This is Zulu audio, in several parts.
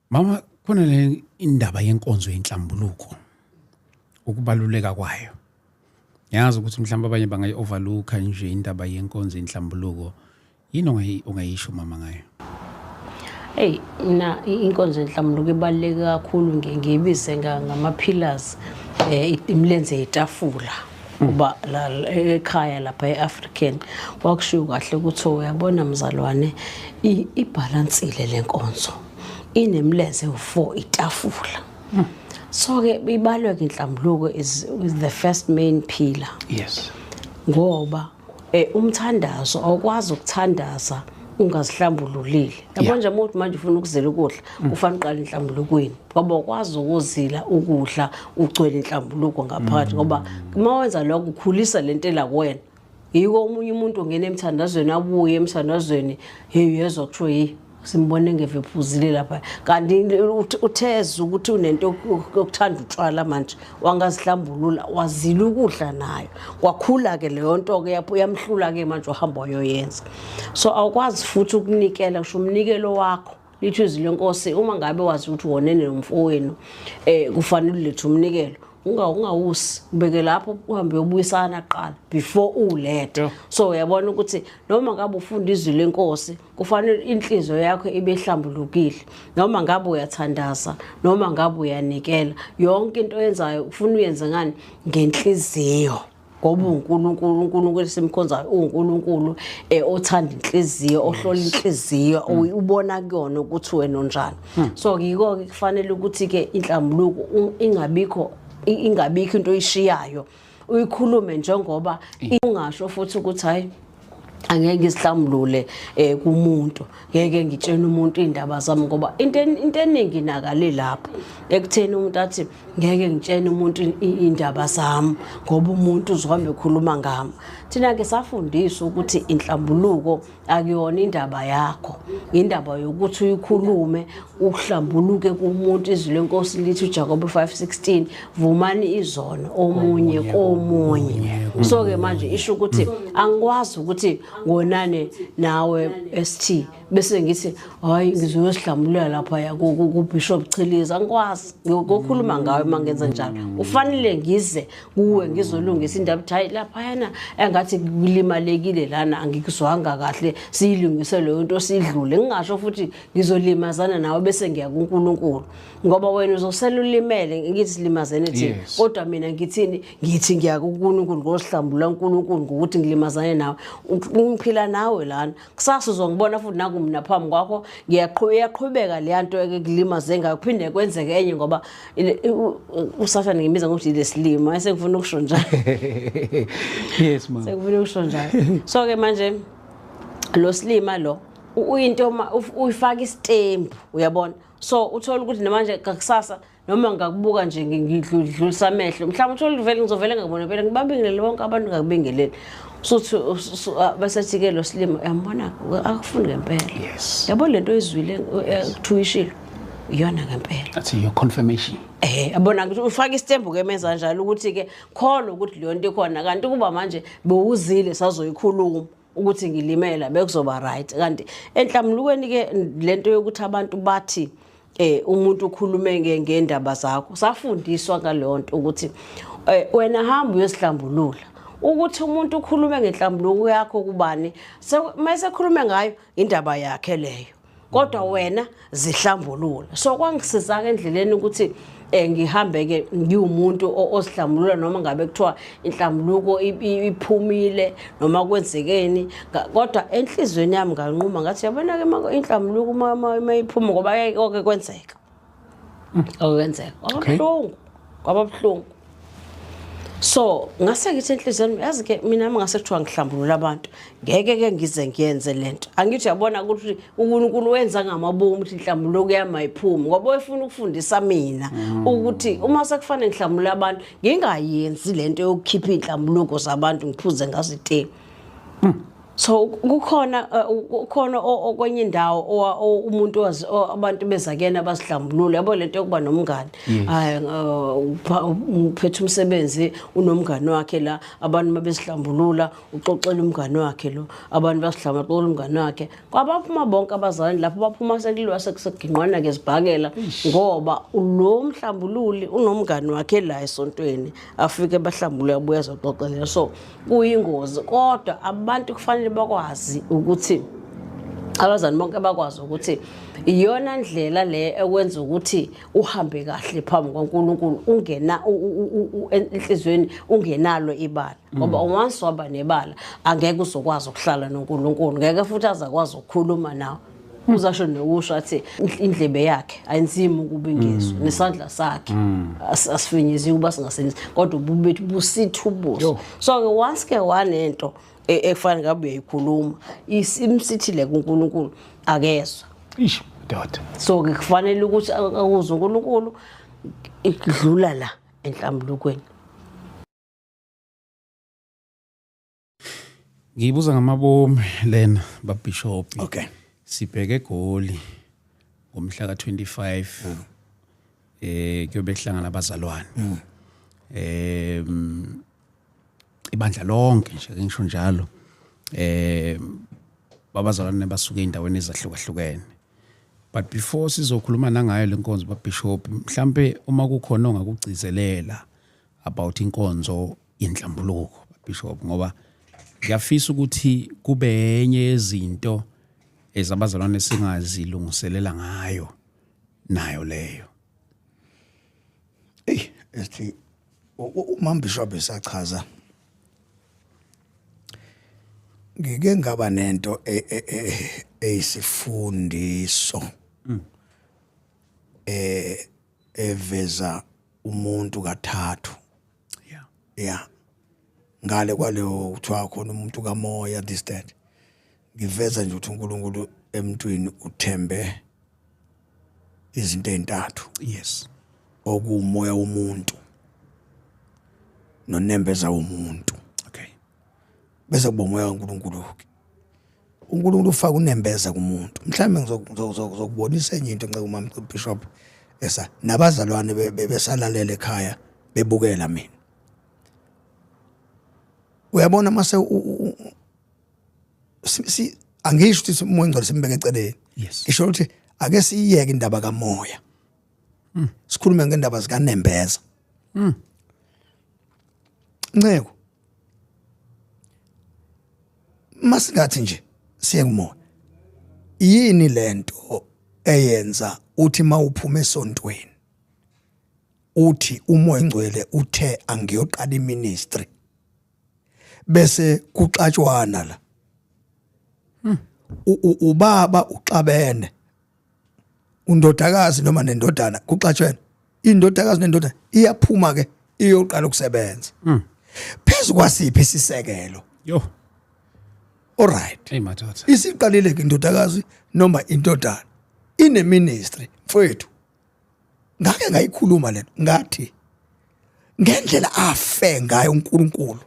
mama khona le indaba yenkonzo yenhlambuluko ukubaluleka kwayo ngiyazi ukuthi mhlawumbe abanye bangayi overlooka nje indaba yenkonzo yenhlambuluko yini ongayisho mama ngayo eyi mina inkonzo yenhlambuluko ibaluleke kakhulu ngibize ngama-pillars um imilenze yetafula uba ekhaya lapha e-african kwakushiwo kahle ukuthi uyabona mzalwane ibhalansile le nkonzo inemlenze ewu-four itafula hmm. so-ke ibalwe-ke inhlambuluko is the first main pillar yes ngoba Eh umthandazo awukwazi ukuthandaza ungazihlambululile yabo nje umuntu manje ufuna ukuzila ukudla mm. ufana uqala inhlambulukweni ngoba ukwazi ukuzila ukudla ugcwele inhlambuluko ngaphakathi ngoba mm. uma wenza lokho ukhulisa lento ela kuwena yiko omunye umuntu ongena emthandazweni abuye emthandazweni hey uyezwa kusho yi simbone ngevephuzile lapha kanti utheza ukuthi unento yokuthanda utshwala manje wangazihlambulula wazila ukudla nayo kwakhula-ke leyo nto-ke yapho uyamhlula-ke manje ohamba wayoyenza so awukwazi futhi ukunikela kusho umnikelo wakho lithi izwi lenkosi uma ngabe wazi ukuthi wonene nomfowenu um eh, kufanele ulethe umnikelo ungawusi ubeke lapho uhambe uyobuyisana kuqala before ulethe so uyabona ukuthi noma ngabe ufunda izwi lenkosi kufanele inhliziyo yakho ibe ihlambulukile noma ngabe uyathandaza noma ngabe uyanikela yonke into oyenzayo ufuna uyenze ngani ngenhliziyo ngoba uNkulunkulu uNkulunkulu esimkhonzayo uNkulunkulu eh othanda inhliziyo ohlola inhliziyo hmm. ubona kuyona ukuthi wena onjani hmm. so ngiko ke kufanele ukuthi ke inhlambuluko ingabikho ingabikho into oyishiyayo uyikhulume njengoba ungasho futhi ukuthi hayi angeke ngisihlambulule eh kumuntu ngeke ngitshene umuntu indaba zami ngoba into into eningi nakale lapha ekutheni umuntu athi ngeke ngitshene umuntu indaba zami ngoba umuntu uzohamba ekhuluma ngami thina ke safundiswa ukuthi inhlambuluko akuyona indaba yakho indaba yokuthi uyikhulume uhlambuluke kumuntu izwi lenkosi lithi uJakobe 5:16 vumani izono omunye komunye so ke manje isho ukuthi angikwazi ukuthi ngonane nawe ST bese ngithi hayi ngizoyo sihlamulela lapha ya ku Bishop Chiliza angikwazi ngokukhuluma ngawe mangenza njalo ufanele ngize kuwe ngizolungisa indaba ukuthi hayi laphayana engathi kulimalekile lana angikuzwanga kahle siyilungise leyo nto sidlule ngingasho futhi ngizolimazana nawe bese ngiya kuNkulunkulu ngoba wena uzosela ulimele ngithi silimazene thina kodwa mina ngithini ngithi ngiya kuNkulunkulu ngosihlambula uNkulunkulu ngokuthi ngilimazane nawe ungiphila nawe lana kusasa uzongibona futhi naku mina phambi kwakho ngiyaqhubeka leya nto ekulimaze ngayo kuphinde kwenzeke enye ngoba usathane ngimiza ngokuthi lesilima esengifuna ukusho njalo yes ma sengifuna ukusho njalo so ke manje lo silima lo uyinto uma uyifaka isitembu uyabona so uthola ukuthi namanje kakusasa noma ngakubuka nje ngidlulisa amehlo mhlawumbe uthole uvele ngizovele ngakubona phela ngibabingelele bonke abantu ngakubingeleli suthi ah, basethi-ke lo silima uyambona akufundi ngempela yabo le nto oyizwile eh, kuthuwishilo iyona ngempela that's your confirmation eh abona ukuthi ufaka istembu ke menza njalo ukuthi ke khona ukuthi leyo nto ikhona kanti kuba manje bewuzile sazoyikhuluma ukuthi ngilimela bekuzoba right kanti enhlamulukweni ke lento yokuthi abantu bathi eh umuntu ukhulume ngendaba zakho safundiswa ngalonto ukuthi eh, wena hamba uyosihlambulula ukuthi umuntu ukhulume ngenhlambuluko yakho kubani mase khulume ngayo indaba yakhe leyo kodwa wena zihlambulula so kwangisizaka endleleni ukuthi eh ngihambe ke ngiwumuntu osihlambulula noma ngabe kuthiwa inhlambuluko iphumile noma kwenzekeni kodwa enhlizweni yami nganquma ngathi yabona ke inhlambuluko uma iphuma ngoba yayike kwenzeka mm, okwenzeka kwababuhlungu kwababuhlungu so ngase ngithi enhliziyweni yazi ke mina ngase kuthiwa ngihlambulula abantu ngeke ke ngize ngiyenze lento angithi yabona ukuthi uNkulunkulu wenza ngamabomu ukuthi inhlambulo kuyama iphumi ngoba efuna ukufundisa mina mm. ukuthi uma sekufanele ngihlambulula abantu ngingayenzi lento yokukhipha inhlambulo zabantu ngiphuze ngazithe mm. so kukhona eh, kukhona okwenye indawo umuntu abantu bezakena basidlambulule yabo lento yokuba nomngane hayi eh, uphethe umsebenzi unomngane wakhe la abantu mabesidlambulula uxoxela umngane wakhe lo abantu basidlamba xoxela umngane wakhe kwabaphuma bonke abazalwane lapho baphuma sekuliwa sekuseginqwana ke zibhakela ngoba lo mhlambululi unomngane wakhe la esontweni afike bahlambulule abuye azoxoxela so kuyingozi kodwa abantu kufanele bakwazi ukuthi abazali bonke bakwazi ukuthi iyona ndlela le ekwenza ukuthi uhambe kahle phambi kwaNkulunkulu ungena enhlizweni ungenalo ibala ngoba mm. once waba nebala angeke uzokwazi ukuhlala noNkulunkulu ngeke futhi azakwazi ukukhuluma nawe uzasho nokusho athi indlebe yakhe ayinzima ukuba ingizwe mm. nesandla sakhe mm. asifinyeziwe uba singasebenzi kodwa ububi bethu busithi ubuso so-ke once ke wanento e, ekufanele ngabe uyayikhuluma imsithile kunkulunkulu akezwa ish doda so-ke kufanele ukuthi akuzwe unkulunkulu idlula la enhlambulukweni Ngiyibuza ngamabomu lena babishop. Okay. Sibheke eGoli ngomhla ka-25 mm. eh kuyobe kuhlangana abazalwane. Mm. Eh ibandla lonke nje ngisho njalo. Eh babazalwane basuke endaweni ezahlukahlukene. But before sizokhuluma nangayo lenkonzo babishop mhlambe uma kukhona ongakugcizelela about inkonzo inhlambuluko bishop ngoba ngiyafisa ukuthi kube enye yezinto ezabazalwane singazilungiselela ngayo nayo leyo hey ethi umama bishop esachaza ngike ngaba nento e, e, e, eyisifundiso mm. eh eveza umuntu kathathu yeah yeah ngale kwaleyo kuthiwa khona umuntu kamoya this that ngiveza nje ukuthi uNkulunkulu emntwini uthembe izinto ezintathu yes okuumoya womuntu nonembeza womuntu okay bese kuba umoya kaNkulunkulu ke uNkulunkulu ufaka unembeza kumuntu mhlawumbe ngizokubonisa enye into nceke umama Bishop esa nabazalwane besalalele ekhaya bebukela mina uyabona mase si angisho ukuthi umoya ongcwele simbeke eceleni ngisho ukuthi ake siyiyeke indaba kamoya hmm. sikhulume ngendaba zikanembeza hmm. nceko masingathi nje siye kumoya yini lento eyenza uthi mawuphuma esontweni uthi umoya ngcwele uthe angiyoqala iministry bese kuxatshwana la hmm. ubaba uxabene undodakazi noma nendodana kuxatshwena indodakazi nendodana iyaphuma ke iyoqala ukusebenza mm. phezu kwasiphi isisekelo yo alright hey madoda isiqalile ke indodakazi noma indodana ine ministry mfowethu ngake ngayikhuluma lento ngathi ngendlela afe ngayo uNkulunkulu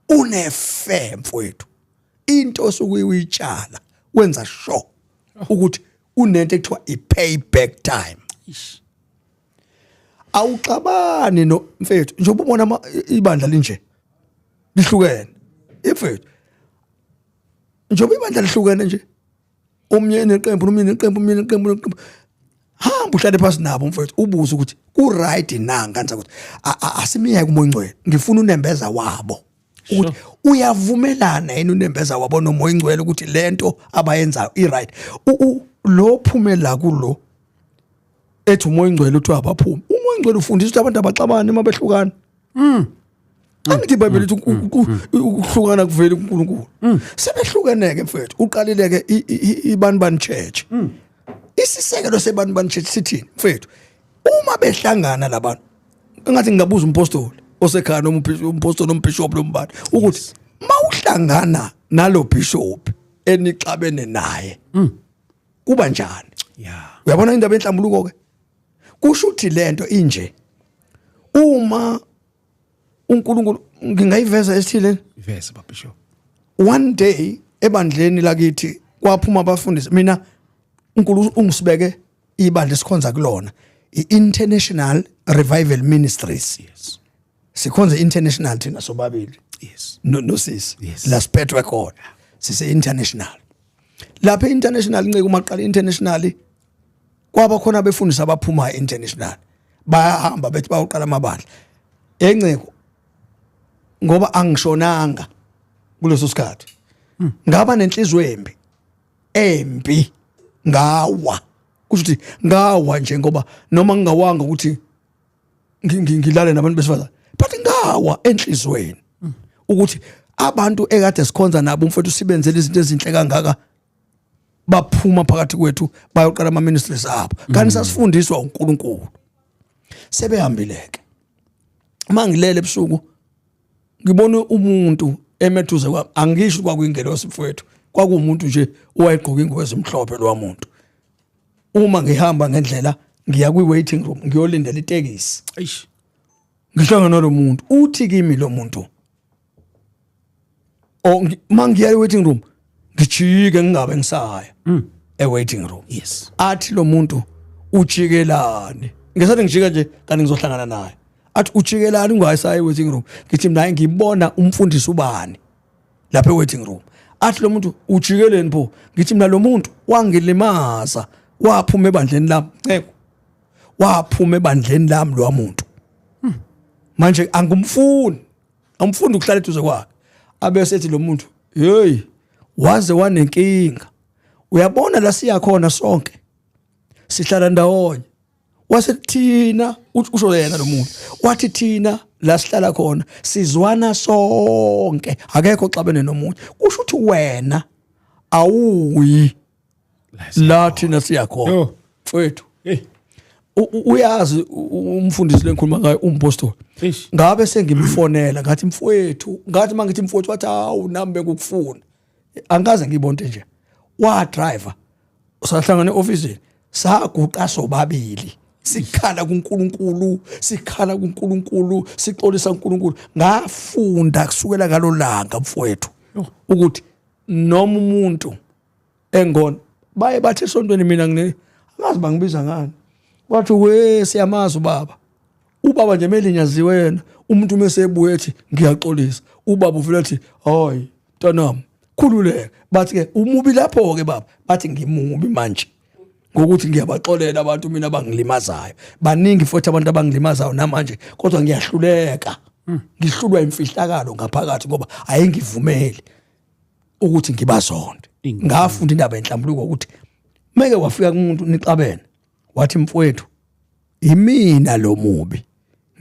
unefe mfowethu into osuke uyitshala wenza sure ukuthi kunento ekuthiwa i-payback time awuxabani no mfethu njengoba ubona ibandla linje lihlukene imfethu njengoba ibandla lihlukene nje omnye neqembu nomnye neqembu omnye neqembu neqembu hamba uhlale phansi nabo mfethu ubuze ukuthi ku-right na nganisa ukuthi asimiyeke umoya ongcwele ngifuna unembeza wabo ukuthi uyavumelana yena unembeza wabona umoya ingcwele ukuthi lento abayenzayo i-right lo phume la kulo ethi umoya ingcwele uthi abaphume umoya ingcwele ufundisa ukuthi abantu abaxabane uma behlukana mm. angithi ibhayibheli lithi mm. Mm. ukuhlukana kuvela kuNkulunkulu sebehlukeneke mfethu uqalileke ibani bani church isisekelo sebani bani church sithini mfethu uma behlangana labantu engathi ngingabuza umpostoli osekhaya noma umpostoli noma bishop noma ubani ukuthi mawuhlangana nalo bishop enixabene naye mm. kuba njani yeah uyabona indaba enhlambuluko ke kusho ukuthi lento inje uma uNkulunkulu ngingayiveza esithile iveze babisho one day ebandleni lakithi kwaphuma abafundisi mina uNkulunkulu ungisibeke ibandla esikhonza kulona i-international revival ministries yes. sikhonza i-international thina sobabili yes. nosisi no yes. la siphethwe khona sise-international lapha i-international nceke uma qala i-international kwaba khona abefundisi abaphuma e-international bayahamba bethi bayoqala amabandla enceko ngoba angishonanga kuleso sikhathi ngaba nenhliziyo embi embi ngawa kusho ukuthi ngawa nje ngoba noma ngingawanga ukuthi ngilale nabantu besifazane but ngawa enhlizweni ukuthi abantu ekade sikhonza nabo umfowethu sibenzele izinto ezinhle kangaka baphuma phakathi kwethu bayoqala ama ministries abo kanti mm. sasifundiswa uNkulunkulu sebehambileke mangilele ebusuku ngibona umuntu emethuze kwami angisho kwakuyingelosi mfowethu kwakuwumuntu nje owayegqoka ingubo ezimhlophe lowa muntu uma ngihamba ngendlela ngiya kwi-waiting room ngiyolindela itekisi eish ngihlangana nalo muntu uthi kimi lo muntu or ngi- uma ngiya e-waiting room ngijike ngingabe ngisaya Mm. e-waiting room yes athi lo muntu ujikelani ngesathi ngijika nje kanti ngizohlangana naye athi ujikelani ungayisaya e-waiting room ngithi mina ngibona umfundisi ubani lapha e-waiting room athi lo muntu ujikeleni pho ngithi mina lo muntu wangilimaza waphuma ebandleni lami nceko waphuma ebandleni lami lowa muntu manje angimfuni angifuni ukuhlala eduze kwakhe abese ethi lo muntu hey waze wanenkinga uyabona la siya khona sonke sihlala ndawonye wase thina usho yena lo muntu wathi thina la sihlala khona sizwana sonke akekho xabene nomunye kusho ukuthi wena awuyi la thina siyakhona Yo. mfowethu Hey. U- u- uyazi u- u- umfundisi lengikhuluma ngayo umpostoli Eish. ngabe sengimfonela ngathi mfowethu ngathi uma ngithi mfowethu wathi hawu nami bekukufuna angikaze ngiyibonte nje wadriver sahlangana e-ofisini saguqa sobabili sikhala kunkulunkulu sikhala kunkulunkulu sixolisa unkulunkulu ngafunda kusukela ngalo langa mfowethu ukuthi noma umuntu engona baye bathi esontweni mina ngine angazi bangibiza ngani wathi we siyamazi ubaba ubaba nje melinyaziwe yena umuntu mesebuye ethi ngiyaxolisa ubaba uvela ethi hayi ntanam khululeke bathi ke umubi lapho ke baba bathi ngimubi manje ngokuthi ngiyabaxolela abantu mina abangilimazayo baningi futhi abantu abangilimazayo namanje kodwa ngiyahluleka hmm. ngihlulwa imfihlakalo ngaphakathi ngoba ayengivumeli ukuthi ngibazonde ngafunda indaba yenhlambuluko ukuthi meke wafika kumuntu nixabene wathi mfowethu imina lo mubi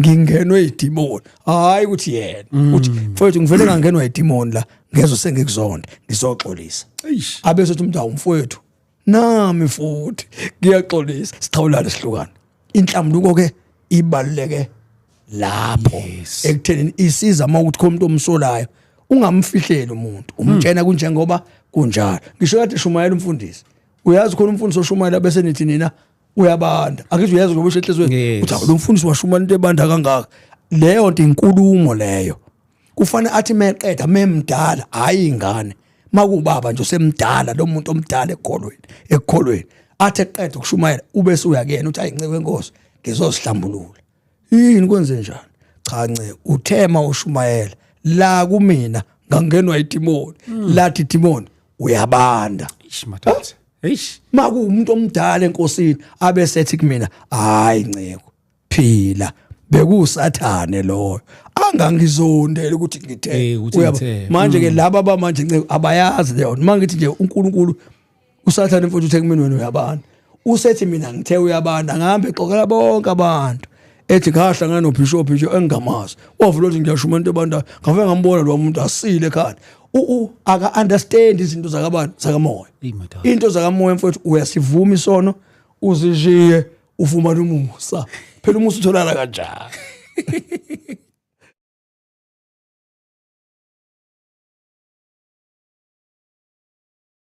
ngingenwe idimoni hayi ukuthi yena mm. uthi mfowethu ngivele ngangenwa idimoni la ngezo sengikuzonde ngizoxolisa abesothi umuntu awumfowethu nami futhi ngiyaxolisa sixhawulane sihlukane inhlambuko ke ibaluleke lapho Yes. ekutheni isiza uma ukuthi khona umuntu omsolayo ungamfihleli umuntu umtshena kunjengoba kunjalo ngisho kade shumayela umfundisi uyazi khona umfundisi oshumayela bese nithi nina uyabanda akizwe uyazi ngoba ushehlezweni Yes. uthi lo mfundisi washumana into ebanda kangaka leyo nto inkulumo leyo kufanele athi meqeda memdala hayi ingane makubaba nje usemdala lo muntu omdala ekholweni ekholweni athi eqeda ukushumayela ube suyakuyena uthi ayinceku enkosi ngizozihlambulula yini kwenze njani cha nce uthema ushumayela la kumina ngangenwa idimoni hmm. lathi idimoni uyabanda ishimathathe eish makuumuntu omdala enkosini abe sethi kumina hayi nceko phila bekusathane loyo angangizondela ukuthi ngithe eh, manje ke laba bamanje nceko abayazi leyo mangithi nje uNkulunkulu usathane mfuthu uthe kumina wena uyabana usethi mina ngithe uyabana ngihambe xokela bonke abantu ethi ngahla nganobishop nje engingamazi wavula ukuthi ngiyasho umuntu ebanda ngave ngambona lo muntu asile ekhanda u aka understand izinto zakabantu zakamoya into zakamoya mfowethu uyasivuma isono uzishiye ufumana umusa phela umusa utholana kanjani